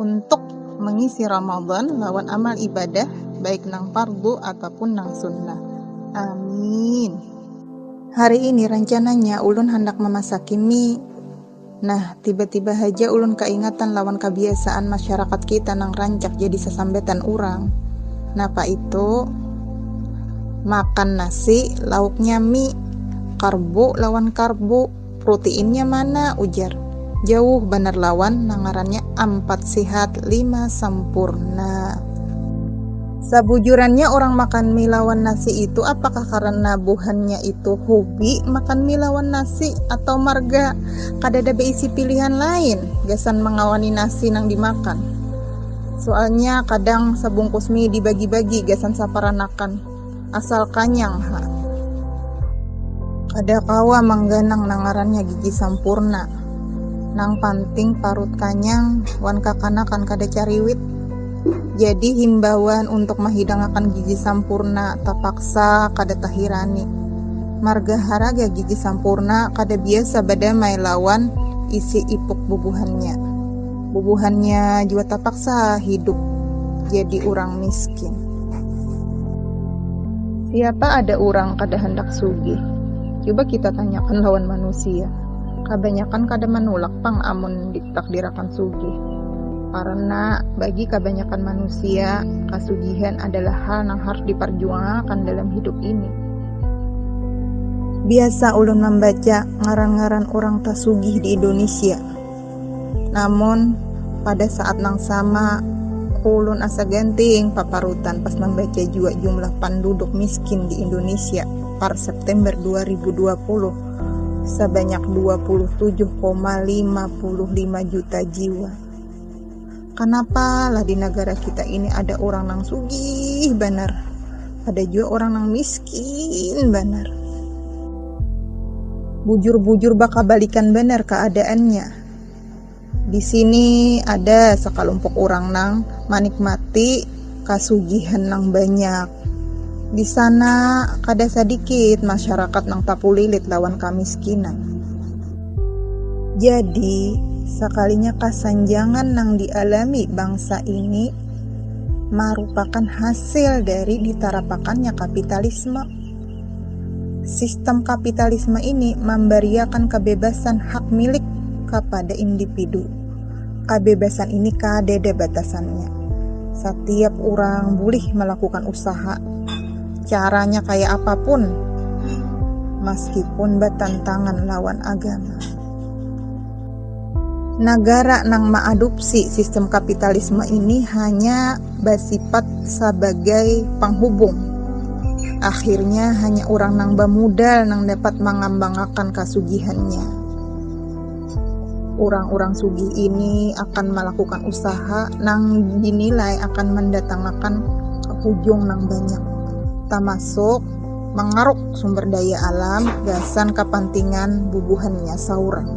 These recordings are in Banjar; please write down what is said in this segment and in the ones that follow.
untuk mengisi Ramadan lawan amal ibadah baik nang fardu ataupun nang sunnah. Amin. Hari ini rancananya ulun handak mamasaki mie. Nah, tiba-tiba haja ulun kaingatan lawan kabiasaan masyarakat kita nang rancak jadi sasambatan urang. Napa itu? Makan nasi, lauknya mie. Karbu lawan karbu. Prutiinnya mana? ujar. Jauh banar lawan nang ngarannya ampat sihat lima sampurna. Sabujurannya urang makan mie lawan nasi itu apakah karena buhannya itu hubi makan mie lawan nasi atau marga kadada beisi pilihan lain gasan mangawani nasi nang dimakan. Sualnya kadang sabungkus mie dibagi-bagi gasan saparanakan. Asal kanyang ha. Kada kawa mangganang nang ngarannya gigi sampurna. Nang panting parut kanyang wan kakanakan kada cariwit. Jadi himbawan untuk mahidangakan gigi sampurna tapaksa kada tahirani. Marga haraga gigi sampurna kada biasa badamai lawan isi ipuk bubuhannya. Bubuhannya jua tapaksa hidup jadi urang miskin. Siapa ada urang kada handak sugih? Cuba kita tanyakan lawan manusia. Kabanyakan kada manulak pang amun ditakdirakan sugih. Karena bagi kabanyakan manusia, kasugihan adalah hal nang harus diparjuangakan dalam hidup ini. Biasa ulun mambaca ngaran-ngaran urang tasugih di Indonesia. Namun, pada saat nang sama, ulun asa ganting paparutan pas mambaca jua jumlah panduduk miskin di Indonesia par September dua ribu dua puluh, sabanyak dua puluh tujuh koma lima puluh lima juta jiwa. Kanapa lah di nagara kita ini ada urang nang sugih banar, ada jua urang nang miskin banar. Bujur-bujur bakabalikan banar kaadaannya. Di sini ada sakalumpuk urang nang manikmati kasugihan nang banyak, Di sana, kada sadikit masyarakat nang tapulilit lawan kamiskinan. Jadi, sakalinya kasanjangan nang dialami bangsa ini marupakan hasil dari ditarapakannya kapitalisme. Sistem kapitalisme ini mambariakan kabebasan hak milik kapada indipidu. Kabebasan ini kadada batasannya. Satiap urang bulih malakukan usaha, caranya kaya apa pun, maskipun batantangan lawan agama. Nagara nang maadupsi sistem kapitalisme ini hanya basipat sabagai panghubung. Akhirnya hanya urang nang bamudal nang dapat mangambangakan kasugihannya. Urang-urang sugih ini akan malakukan usaha nang dinilai akan mandatangakan hujung nang banyak, tamasuk. mangaruk sumber daya alam gasan kapantingan bubuhannya saurang.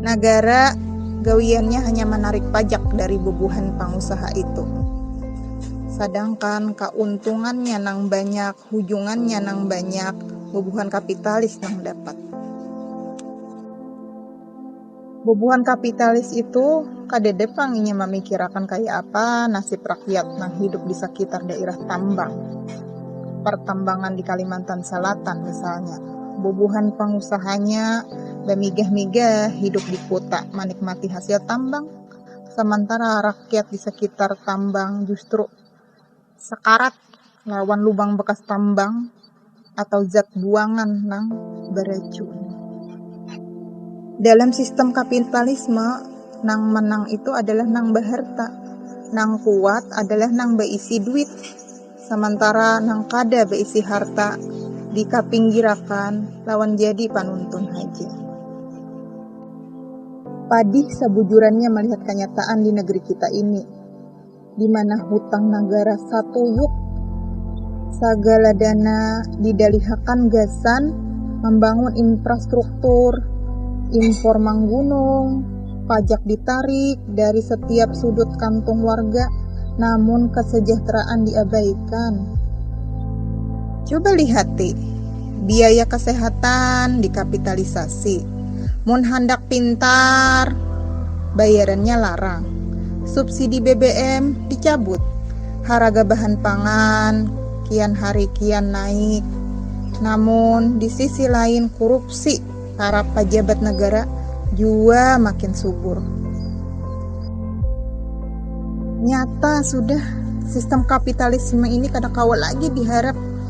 Nagara gawiannya hanya manarik pajak dari bubuhan pangusaha itu. Sadangkan kauntungannya nang banyak, hujungannya nang banyak bubuhan kapitalis nang dapat. Bubuhan kapitalis itu kadede pang inya mamikirakan kaya apa nasib rakyat nang hidup di sakitar dairah tambang, partambangan di Kalimantan Salatan misalnya. Bubuhan pangusahanya bamigah-migah hidup di kuta manikmati hasil tambang, samantara rakyat di sakitar tambang justru sakarat lawan lubang bakas tambang atau zat buangan nang baracun. Dalam sistem kapitalisme, nang menang itu adalah nang baharta, nang kuat adalah nang baisi duit, samantara nang kada baisi harta dikapinggirakan lawan jadi panuntun haja. Padih sabujurannya malihat kanyataan di negeri kita ini. di mana hutang nagara satuyuk sagala dana didalihakan gasan mambangun infrastruktur, impor manggunung, pajak ditarik dari satiap sudut kantung warga namun kasajahteraan diabaikan. Cuba lihati, biaya kasehatan dikapitalisasi. Mun handak pintar, bayarannya larang, subsidi BBM dicabut, haraga bahan pangan kian hari kian naik, namun di sisi lain kurupsi para pajabat negara jua makin subur. Nyata sudah, sistem kapitalisme ini kada kawa lagi diharap.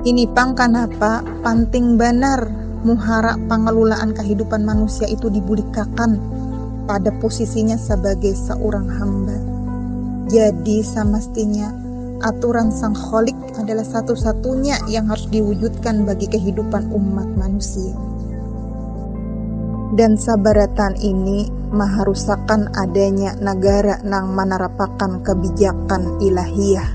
Ini pang kanapa panting banar muhara pangalulaan kahidupan manusia itu dibulikakan pada pusisinya sabagai saurang hamba. Jadi samastinya aturan Sang Khalik adalah satu-satunya yang harus diwujudkan bagi kahidupan umat manusia. Dan sabarataan ini maharusakan adanya nagara nang manarapakan kabijakan ilahiyah.